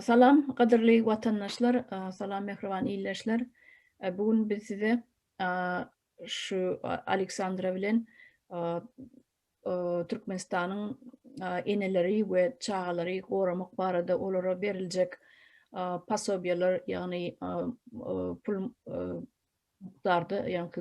Salam, gadyrly watandaşlar! Salam, mähriban ildeşler! Bu gün biz size şu Aleksandra bilen Türkmenistanyň eneleri we çagalary goramak barada olara beriljek posobiýalar, ýagny pul mukdarda ýaňky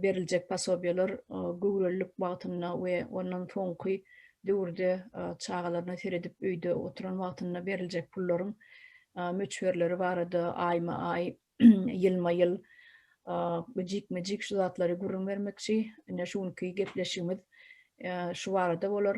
beriljek posobiýeler göwrelilik wagtynda we ondan soňky döwürde çagalaryna seredip öýde oturan wagtynda beriljek pullaryň möçberleri barada aýma-aý, ýylma-ýyl, jikme-jik şu zatlary gürrüň bermekçi. Ine şu günki gepleşigimiz şu barada bolar.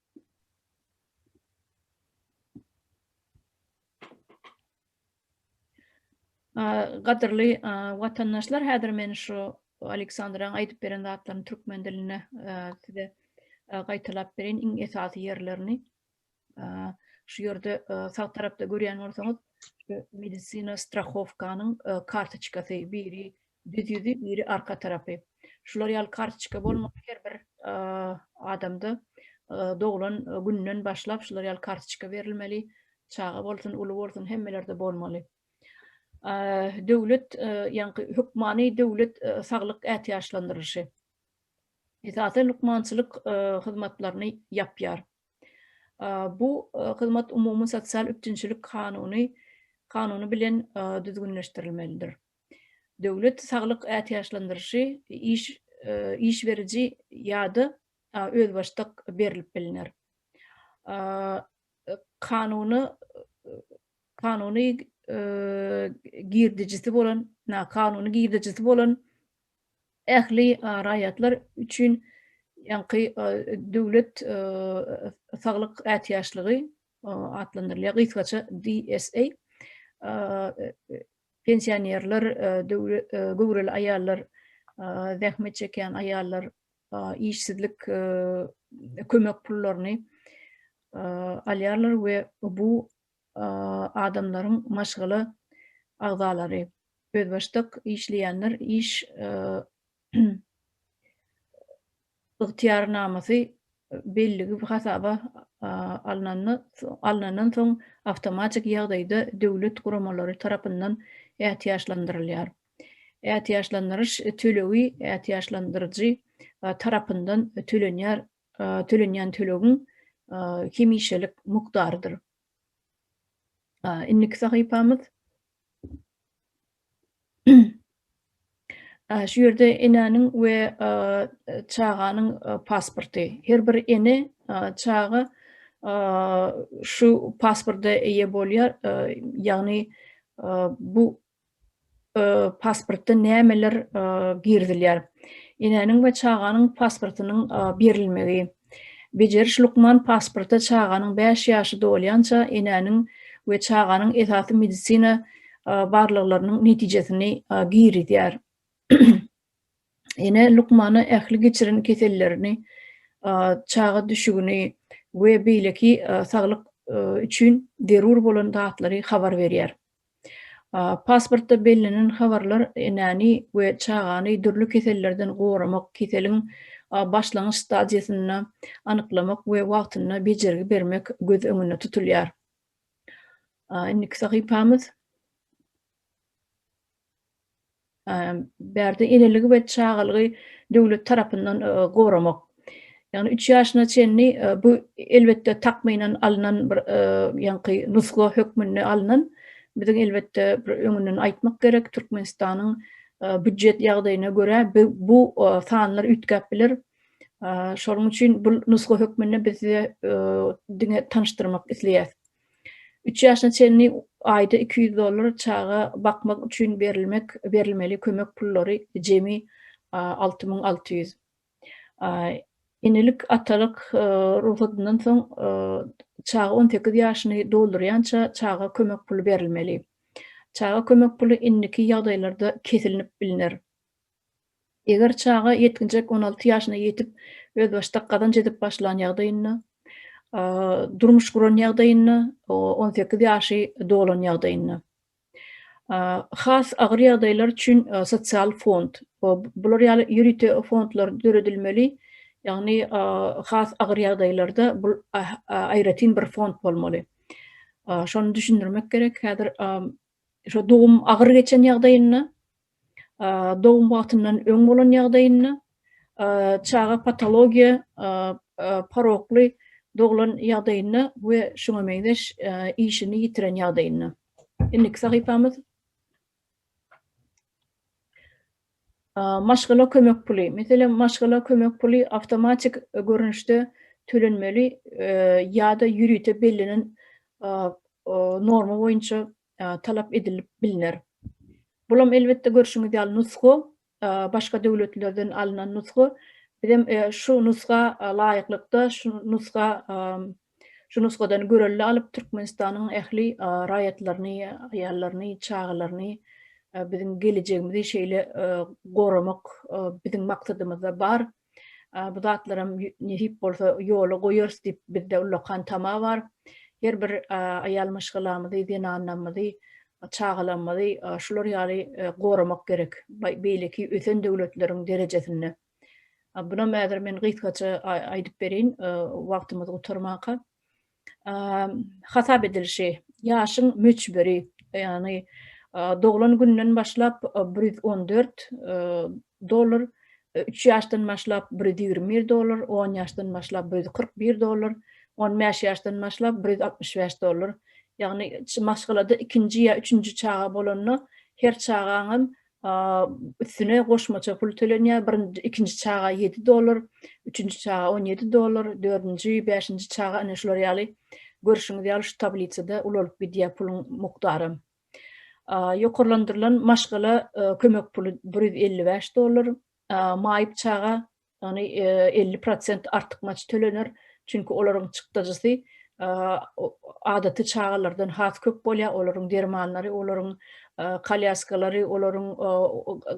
Gadyrly watandaşlar, häzir men şu Aleksandraň aýdyp beren zatlaryny türkmen dilinde size gaýtalap bereýin, iň esasy ýerlerini. Şu ýerde sag tarapda görýän bolsaňyz, medisina strahowkanyň kartoçkasy, biri Düz ýüzi, biri arka tarapy. Şular ýaly kartoçka bolmaly her bir adamda. Doglan günden başlap şular ýaly kartoçka berilmeli. Çaga bolsun, uly bolsun hemmelerde bolmaly. Döwlet, ýaňky hökmany döwlet saglyk ätiýaçlandyrylyşy. Esasan lukmançylyk hyzmatlaryny ýapýar. Bu hyzmat umumy sosial üpjünçilik kanuny kanuny bilen düzgünleşdirilmelidir. döwlet saglyk ätiýaçlandyryşy iş iş beriji ýa-da özbaşdak berlip bilner. Kanuny kanuny girdijisi bolan kanuny girdijisi bolan ähli raýatlar üçin ýaňky döwlet saglyk ätiýaçlygy atlandyrylýar, gysgaça DSA. Pensionerler, göwreli aýallar, zähmet çekýän aýallar işsizlik kömek pullaryny alýarlar we bu adamlaryň maşgala agzalary, özbaşdak işleýänler iş ygtyýarnamasy belligi hasaba alnandan soň awtomatik ýagdaýda döwlet guramalary tarapyndan ätiýaçlandyrylýar. Ätiýaçlandyryş tölegi ätiýaçlandyryjy tarapyndan tölenýär, tölenýän tölegiň hemişelik mukdarydyr. Indiki sahypamyz Şu ýerde enäniň we çaganyň pasporty. Her bir ene, çaga şu pasporta eýe bolýar. Ýagny bu pasportda nämeler girizilýär? Enäniň we çaganyň pasportynyň berilmegi. Bejeriş lukman pasporta çaganyň bäş ýaşy dolýança enäniň we çaganyň esasy medisina barlaglarynyň netijesini girizýär. Ene lukmana ähli geçiren kesellerini, çaga düşügini we beýleki saglyk üçin zerur bolan zatlary habar berýär. Pasportda bellenen habarlar enäni we çagany dürli kesellerden goramak, keseliň başlangyç stadiýasyny anyklamak we wagtynda bejergi bermek göz öňünde tutulýar. Indiki sahypamyz. bärde eneligi we çagalygy döwlet tarapyndan goramak. Ýagny üç ýaşyna çenli bu elbetde takmynan alnan bir ýaňky nusga hökmünde alnan. Biziň elbetde bir öňünden aýtmak gerek, Türkmenistanyň býujet ýagdaýyna görä bu sanlar üýtgäp biler. Şonuň üçin bu nusga hökmünde biz size diňe tanyşdyrmak isleýäs. Üç ýaşyna çenli aýda iki ýüz dollar çaga bakmak üçin berilmek berilmeli kömek pullary jemi alty müň alty ýüz. Enelik, atalyk rugsatyndan soň çaga on sekiz ýaşyny doldurýança çaga kömek puly berilmeli. Çaga kömek puly indiki ýagdaýlarda kesilnip bilner. Eger çaga, ýetginjek on alty ýaşyna ýetip, özbaşdak gazanç edip başlan ýagdaýynda, durmuş guran ýagdaýynda, on sekiz ýaşy dolan ýagdaýynda. Has agyr ýagdaýlar üçin sosial fond, bular ýaly ýörite fondlar döredilmeli, ýagny has agyr ýagdaýlarda bul aýratyn bir fond bolmaly. Şony düşündirmek gerek, häzir şo dogum agyr geçen ýagdaýynda, dogum wagtyndan öň bolan ýagdaýynda, çaga patologiýa porokly doglan ýagdaýynda we şuňa meňzeş işini ýitiren ýagdaýynda. Indiki sahypamyz. Maşgala kömek puly. Meselem, maşgala kömek puly awtomatik görnüşde tölenmeli ýa-da ýörite bellenen norma boýunça talap edilip bilner. Bulam elbetde görşüňiz ýaly nusga, başga döwletlerden alynan nusga. Bizem şu nusga laýyklykda şu nusga şu nusgadan görelde alyp Türkmenistanyň ähli raýatlaryny, aýallaryny, çagalaryny biziň gelejegimizi şeýle goramak biziň maksadymyzda bar. Bu zatlaram nesip bolsa ýola goýarys diýip, bizde ullakan tama bar. Her bir aýal-myşgalamyzy, zenanlarymyzy, çagalarymyzy şular ýaly goramak gerek, beýleki ösen döwletleriň derejesinde. Bunam häzir men gysgaça aýdyp bereýin, wagtymyz gutarmanka. hasap edilişi, ýaşyň möçberi, ýagny doglan gününden başlap bir ýüz on dört dollar, üç ýaşdan başlap bir ýüz ýigrimi bir dollar, on ýaşdan başlap bir ýüz kyrk bir dollar, on bäş ýaşdan başlap bir ýüz altmyş bäş dollar. Ýagny maşgalada ikinji ýa üçünji çaga bolanda her çagaň hem üstüne goşmaça pul tölenýär, birinji, ikinji çaga ýedi dollar, üçünji çaga on ýedi dollar, dördünji, bäşinji çaga, ine şular ýaly, görşüňiz ýaly şu tablisada ulalyp gidýär puluň mukdaram. Ýokarlandyrylan maşgala kömek puly bir ýüz elli bäş dollar, maýyp çaga Ýagny elli prosent artykmaç tölener, çünki olaryň çykdajysy adaty çagalardan has köp bolýar, olaryň dermanlary, olaryň kolýaskalary, olaryň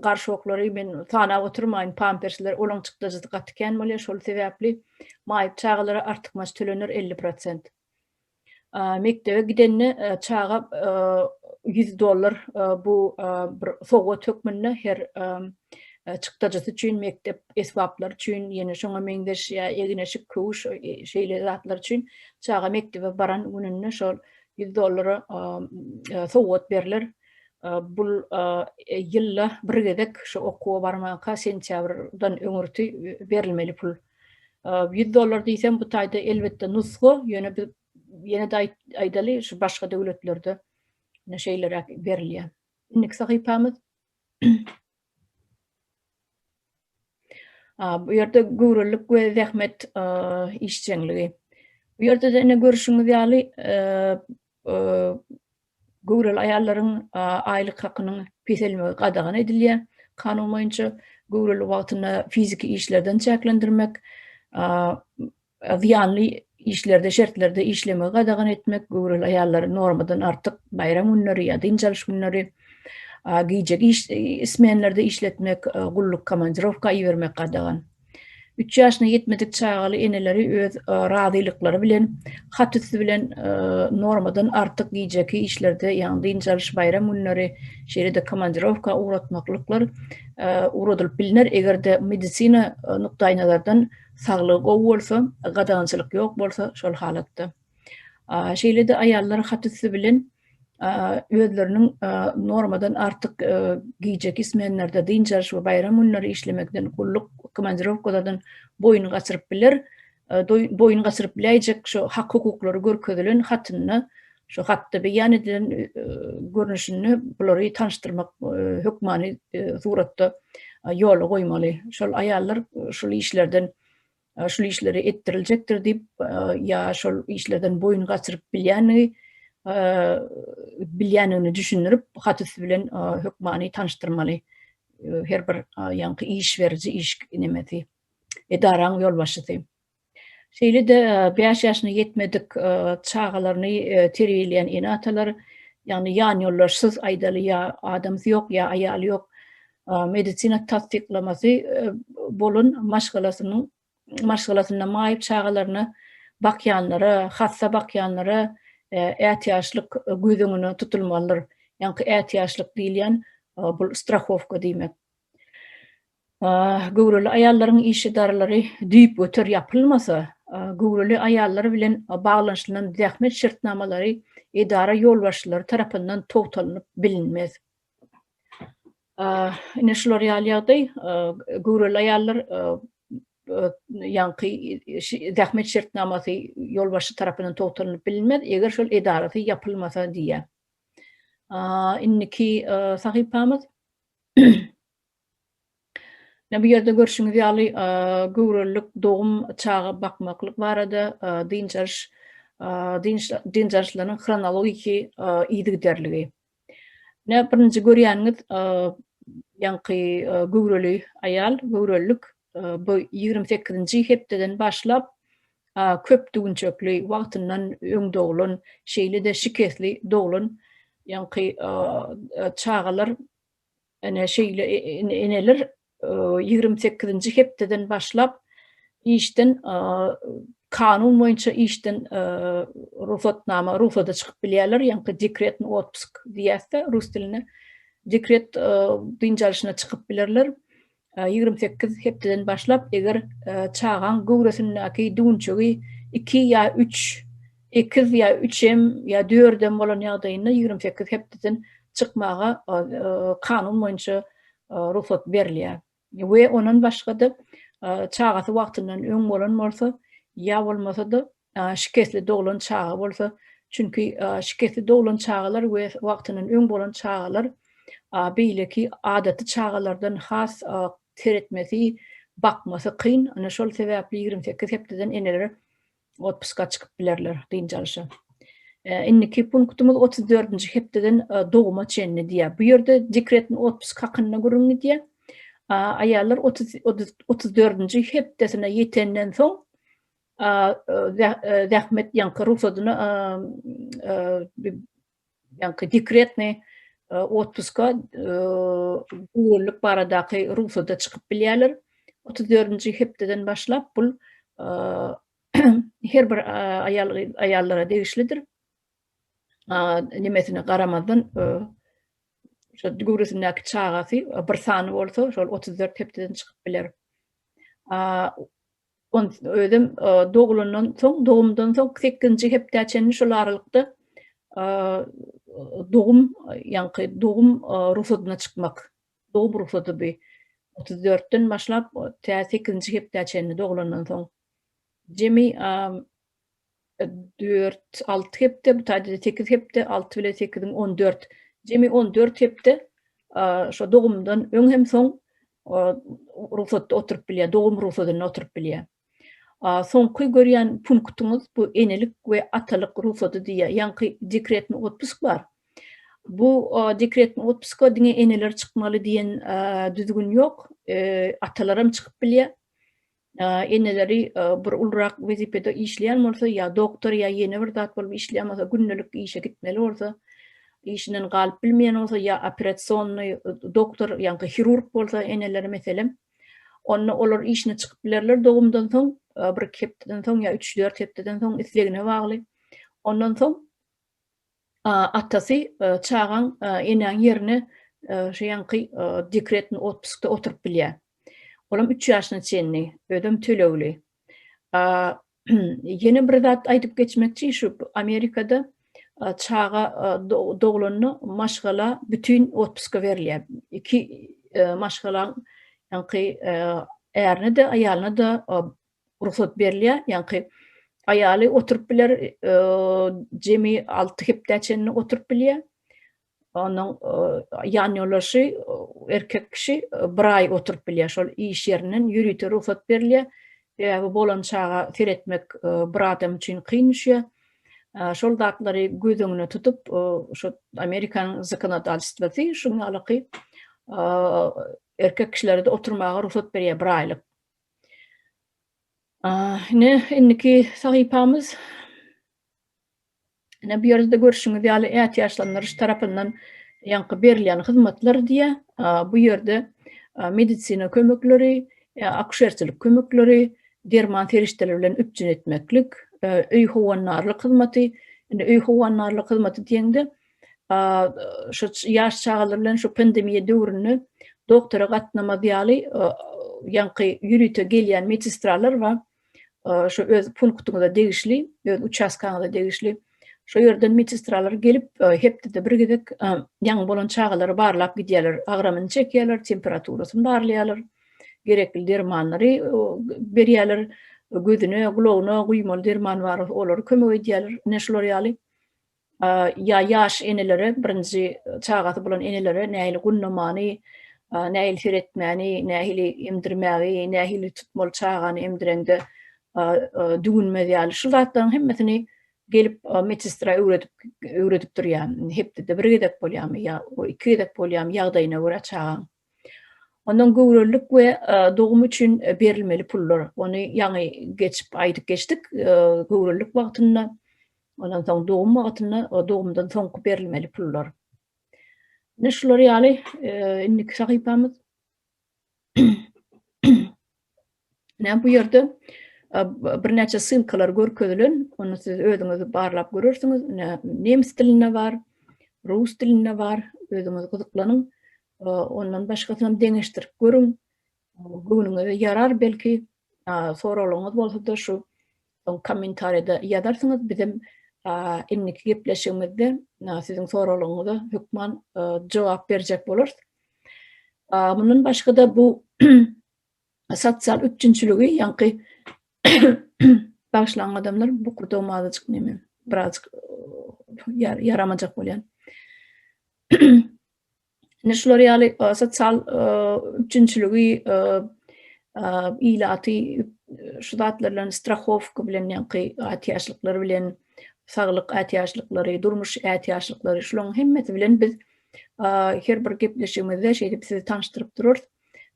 garşoklary, men sanap oturmaýyn, pampersler, olaryň çykdajysy gaty kän bolýar, şol sebäpli maýyp çagalara artykmaç tölener elli prosent. mekdebe gidende çaga ýüz dollar bu bir sowgat hökmünde her çykdajysy üçin mekdep esbaplary üçin ýene şoňa meňzeş ýa egin-eşik köwüş şeýle zatlar üçin çaga mekdebe baran gününde şol ýüz dollara sowgat berler bu ýylda bir gezek şu okuwa barmaka sentýabrdan öňürti berilmeli pul Ýüz dollar diýsem bu taýda elbetde nusga, ýöne biz ýene-de aýdaly şu başga döwletlerde ine şeýleräk berilýär. Indiki sahypamyz bu ýerde göwrelilik we zähmet işjeňligi. Bu ýerde-de ine görüşiňiz ýaly Göwreli aýallaryň aýlyk hakynyň peselmegi gadagan edilýär. Kanun boýunça göwreli wagtyny fiziki işlerden çäklendirmek, zyýanly işlerde, şertlerde işlemegi gadagan etmek, göwreli aýallary normadan artyk baýram günleri ýa dynç alyş günleri, gije smenlerde işletmek, gulluk, komandirowka ibermek gadagan. Üç ýaşyna ýetmedik çagaly eneleri öz razylyklary bilen hat üsti bilen normadan artyk gijeki işlerde, ýagny dynç alyş, baýram günleri, şeýle-de komandirowka ugratmaklyklar ugradylyp bilner, eger-de medisina nukdaýnazardan saglygy gowy bolsa, gadagançylyk ýok bolsa, şol halatda. Şeýle-de aýallar hat-üsti bilen özleriniň normadan artyk gijeki smenlarda, dynç alyş we baýram günleri işlemekden, gulluk komandirowkalardan boýun gaçyryp biler. Boýun gaçyryp biläýjek şu hak-hukuklary görkezilen hatynda, şu hatda beýan edilen görnüşinde bulary tanyşdyrmak hökmany suratda ýola goýmaly. Şol aýallar şol işlerden şul işleri etdiriljekdir diýip ýa şol işlerden boýun gaçyryp bilýänligi bilýänligini düşündirip hat üsti bilen hökmany tanyşdyrmaly her bir ýaňky iş beriji iş nemesi edaraň ýolbaşçysy şeýle-de bäş ýaşyna ýetmedik çagalaryny terbiýeleýän ene-atalar ýagny ýan ýoldaşsyz aýdaly ýa adamsy ýok ýa aýaly ýok medisina tassyklamasy bolan maşgalasynyň maşgalasynda maýyp çagalaryny bakýanlara, hassa bakýanlara ätiýaçlyk göz öňüne tutulmalydyr. Ýaňky ätiýaçlyk diýilýän bu strahowka diýmek. Göwreli aýallaryň iş edaralary düýpgöter ýapylmasa, göwreli aýallar bilen baglanyşylan zähmet şertnamalary edara ýolbaşçylary tarapyndan togtalynyp bilinmez. Ine şular ýaly ýagdaý, göwreli aýallar ýaňky zähmet şertnamasy ýolbaşçy tarapyndan togtalyp bilinmez, eger şol edarasy ýapylmasa diýýär. Indiki sahypamyz. Ine, bu ýerde görşüňiz ýaly, göwrelilik, dogum, çaga bakmaklyk barada dynç alyş, dynç dynç alyşlarynyň hronologiki yzygiderligi. Ine, birinji görýäniňiz, ýaňky göwreli aýal, göwrelilik, bu ýigrimi sekizinji hepdeden başlap, köp düwünçekli, wagtyndan öň doglan, şeýle-de şikesli doglan ýaňky çagalar. Ene şeýle eneler ýigrimi sekizinji hepdeden başlap işden kanun boýunça işden rugsatnama rugsada çykyp bilýärler ýaňky dekretny otpusky diýýäsde rus dilinde dekret dynç alyşyna çykyp bilerler Ýigrimi sekiz hepdeden başlap, eger çagaň göwresindäki düwünçegi iki ýa üç ekiz ýa üçem ýa dördem bolan ýagdaýynda ýigrimi sekiz hepdeden çykmaga kanun boýunça rugsat berilýär. We ondan başga-da, çagasy wagtyndan öň bolan bolsa ýa bolmasa-da Şikesli doglan çaga bolsa, çünki şikesli doglan çagalar we wagtyndan öň bolan çagalar beýleki adaty çagalardan has seretmesi, bakmasy kyn. Ine şol sebäpli ýigrimi sekiz hepdeden eneler otpuska çykyp bilerler, dynç alyşa. Indiki punktymyz otuz dördünji hepdeden doguma çenli diýýär. Bu ýerde dekretni otpusk hakynda gürrüň gidýär. Aýallar otuz dördünji hepdesine ýetenden soň zähmet ýaňky rugsadyny ýaňky dekretny otpuska degirlik baradaky rugsada çykyp bilýärler. Otuz dördünji hepdeden başlap bul her bir aýal aýallara degişlidir. Nimesine garamazdan şo göwresindäki çagasy bir sany bolsa şol otuz dört hepdeden çykyp biler. On özüm dogulandan soň, dogumdan soň sekizinji hepdä çenli şol aralykda dogum, ýaňky dogum rugsadyna çykmak. Dogum rugsady bu otuz dörtden başlap tä sekizinji hepdä çenli dogulandan soň. Jemi dört, alty hepde, bu taýda-da sekiz hepde, alty bilen sekiziň on dört, jemi on dört hepde şo dogumdan öň hem soň rugsatda oturyp bilýär, dogum rugsadynda oturyp bilýär. Soňky görýän punktyňyz bu enelik we atalyk rugsady diýýär. Ýaňky dekretni otpusk bar. Bu dekretni otpuska diňe eneler çykmaly diýen düzgün ýok. Atalaram çykyp bilýär. eneleri bir ulurak wezipede işleýän bolsa ýa doktor ýa ýene bir zat bolup işleýän bolsa gündelik işe gitmeli bolsa işinden galyp bilmeýän bolsa ýa operasionny doktor ýa-da hirurg bolsa eneleri meselem onda olar işine çykyp bilerler dogumdan soň bir iki hepdeden soň ýa üç dört hepdeden soň islegine bagly ondan soň Atasy, Çagaň enäň ýerine şu ýaňky dekretny otpuskda oturyp bilýär. Olam üç ýaşyna çenli, özem tölegli. Ýene bir zat aýdyp geçmekçi, şu Amerikada çaga doglanda maşgala bütin otpuska berilýär. Iki maşgalaň ýaňky ärine-de, aýalyna-da rugsat berilýär, ýaňky aýaly oturyp biler, jemi alty hepdä çenli oturyp bilýär. Onuň ýanýoldaşy, erkek kişi bir aý oturyp bilýär, şol iş ýerinden ýörite rugsat berilýär. Sebäbi bolan çaga seretmek bir adam üçin kyn düşýär. Şol zatlary göz öňüne tutup, şu Amerikanyň zakonodalstwosy şuň ýalyky erkek kişilere-de oturmaga rugsat berýär bir aýlyk. Ine, indiki sahypamyz. Ine, bu ýerde görşüňiz ýaly, ätiýaçlandyryş tarapyndan ýaňky berilýän hyzmatlar diýýär. Bu ýerde medisina kömekleri, akuşerçilik kömekleri, derman serişdeleri bilen üpjün etmeklik, öý howandarlyk hyzmaty. Indi öý howandarlyk hyzmaty diýeňde, şu ýaş çagalar bilen şu pandemiýa döwründe doktora gatnamaz ýaly ýaňky ýörite gelýän medistralar bar. Şu öz punktyňyza degişli, öz uçastkaňyza degişli. Şu ýerden medistralar gelip, hepdede bir gezek ýaňy bolan çagalary barlap gidýärler, agramyny çekýärler, temperaturasyny barlaýarlar, gerekli dermanlary berýärler, gözüne, gulagyna guýmaly derman bar, olary kömek edýärler, ine şular ýaly. ýa ýaş enelere, birinji çagasy bolan enelere nähili gunnamany, nähili seretmäni, nähili emdirmägi, nähili tutmaly çagany emdireňde düwünmez ýaly şu zatlaryň hemmesini gelip medsestra öwredip durýar. Hepdede bir gezek bolýarmy ýa iki gezek bolýarmy ýagdaýyna görä çagaň. Ondan göwrelilik we dogum üçin berilmeli pullar. Ony ýaňy geçip aýdyp geçdik. Göwrelilik wagtynda, ondan soň dogum wagtynda, dogumdan soňky berilmeli pullar. Ine şular ýaly indiki sahypamyz. Näme bu ýerde birnäçe ssylkalar görkezilen, ony siz özüňiz barlap görersiňiz. Nemes dilinde bar, rus dilinde bar, özüňiz gyzyklanyň. Ondan başgasyny hem deňeşdirip görüň. Göwnüňize ýarar belki. Soraglaryňyz bolsa-da şu Soň kommentariýada ýazarsyňyz bizem indiki gepleşigimizde siziň soraglaryňyza hökman jogap berjek bolarys. Mundan başga-da bu sosial üpjünçiligi ýaňky bagşlaň adamlar bu kudum azajyk neme birazjyk ýaramajak bolýan. Ine şular ýaly sosial üpjünçiligi ilaty şu zatlar bilen strahowka bilen ýaňky ätiýaçlyklar bilen saglyk ätiýaçlyklary, durmuş ätiýaçlyklary şularyň hemmesi bilen biz her bir gepleşigimizde şeýdip sizi tanyşdyryp durarys.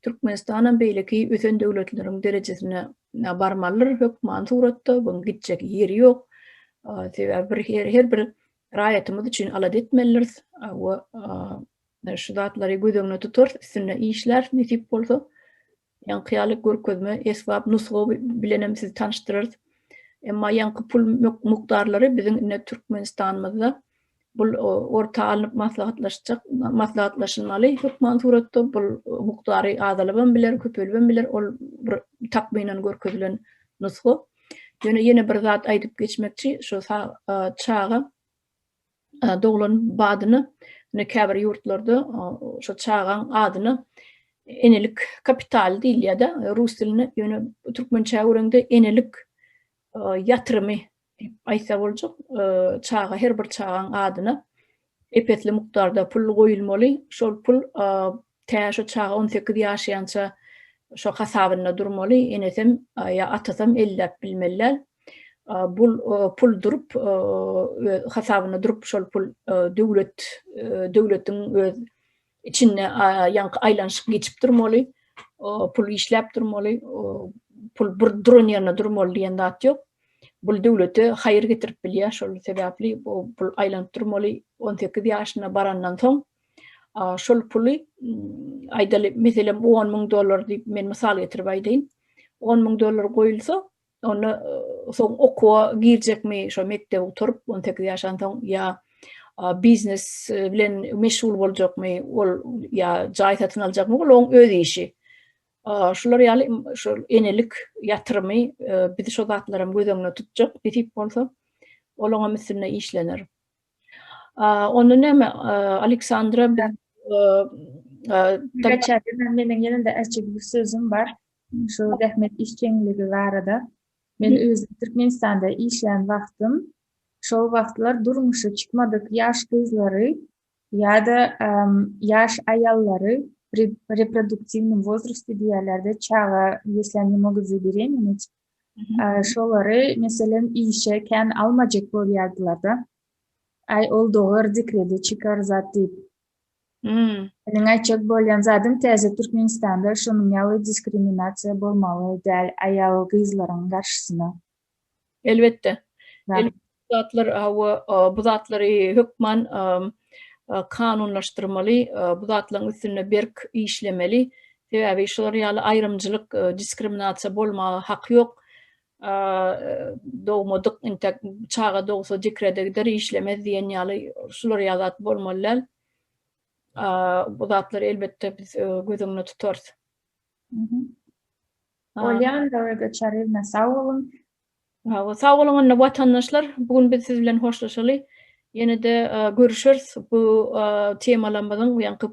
Türkmenistan hem beýleki ösen döwletleriň derejesine barmalydyr hökman suratda, buň gitjek ýeri ýok. Sebäbi bir her bir raýatymyz üçin alada etmelidiris we şu zatlary göz öňünde tutarys, üstünde işläris nesip bolsa. Ýaňky ýaly görkezme, esbap, nusga bilen hem sizi tanyşdyrarys. Emma ýaňky pul mukdarlary biziň indi Türkmenistanymyzda bul orta alnyp maslahatlaşjak, maslahatlaşylmaly hökman suratda bul mukdary azalyp hem biler, köpelip hem biler, ol bir takmynan görkezilen nusga. Ýöne ýene bir zat aýdyp geçmekçi, şu çaga doglan badyna, ine käbir ýurtlarda şu çagaň adyna enelik kapitaly diýilýär-de, rus dilinde, ýöne türkmençä öwrende enelik ýatrymy diýip aýtsa boljak, çaga, her bir çagaň adyna epesli mukdarda pul goýulmaly, şol pul tä şo çaga on sekiz ýaşaýança şo hasabynda durmaly, enesem ýa atasam elläp bilmeliler, bul pul durup hasabynda durup şol pul döwlet döwletiň öz Içinde ýaňky aýlanyşyk geçip durmaly, pul işläp durmaly, pul bir duran ýerinde durmaly diýen zat ýok. Bul döwlete haýyr getirip bilýär, şol sebäpli bu pul aýlanyp durmaly. On sekiz ýaşyna barandan soň şol puly aýdaly, meselem, on müň dollar diýip men mysal getirip aýdaýyn. On müň dollar goýulsa, onda soň okuwa girjekmi, şo mekdebi gutaryp, on sekiz ýaşan soň ýa biznes bilen meşgul boljakmy, ol ýa jaý satyn aljakmy, ol oň öz işi. Şular ýaly şu enelik ýatyrymy biz şo zatlaram göz öňünde tutjak nesip bolsa, ol oňam üstünde işlener. Onda näme Aleksandra Meniň ýene-de äjegimiz sözüm bar. Şu zähmet işjeňligi barada men özüm Türkmenistanda işlän wagtym şol wagtlar durmuşy çykmadyk ýaş gyzlary ýa-da ýaş aýallary pri reproduktiwnyý wozrosty diýýärlerde çaga ýesle ne mogut zaberemenit şolary meselem işe kän almajak bolýardylarda aý ol dogar dekrede çykar zat diýip Hmm. Meniň aýtjak bolýan zadym täze Türkmenistanda şonuň ýaly diskriminasiýa bolmaly däl aýal gyzlaryň garşysyna. Elbetde. Elbetde bu zatlar hawa bu zatlary hökman kanunlaşdyrmaly, bu zatlaryň üstünde berk işlemeli. Sebäbi şular ýaly aýrymjylyk, diskriminasiýa bolmaga haky ýok. dogmadyk intek çaga dogsa dikrede gider işlemez diýen ýaly şular ýa zat bolmaly däl. Bu zatlary elbetde biz e, göz öňünde tutarys. Bolýan döwre geçerizme sag boluň. Sag boluň onda watandaşlar. Bu gün biz siz bilen hoşlaşaly. Ýene-de görüşeris bu temalarymyzyň ýaňky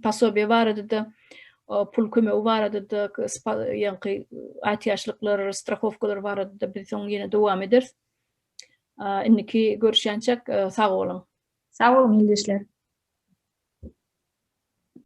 posobiýe barada-da, pul kömegi barada-da, ýaňky ätiýaçlyklar, strahowkalar barada-da biz soň ýene dowam ederis. Indiki görüşýänçäk sag boluň. Sag boluň ildeşler.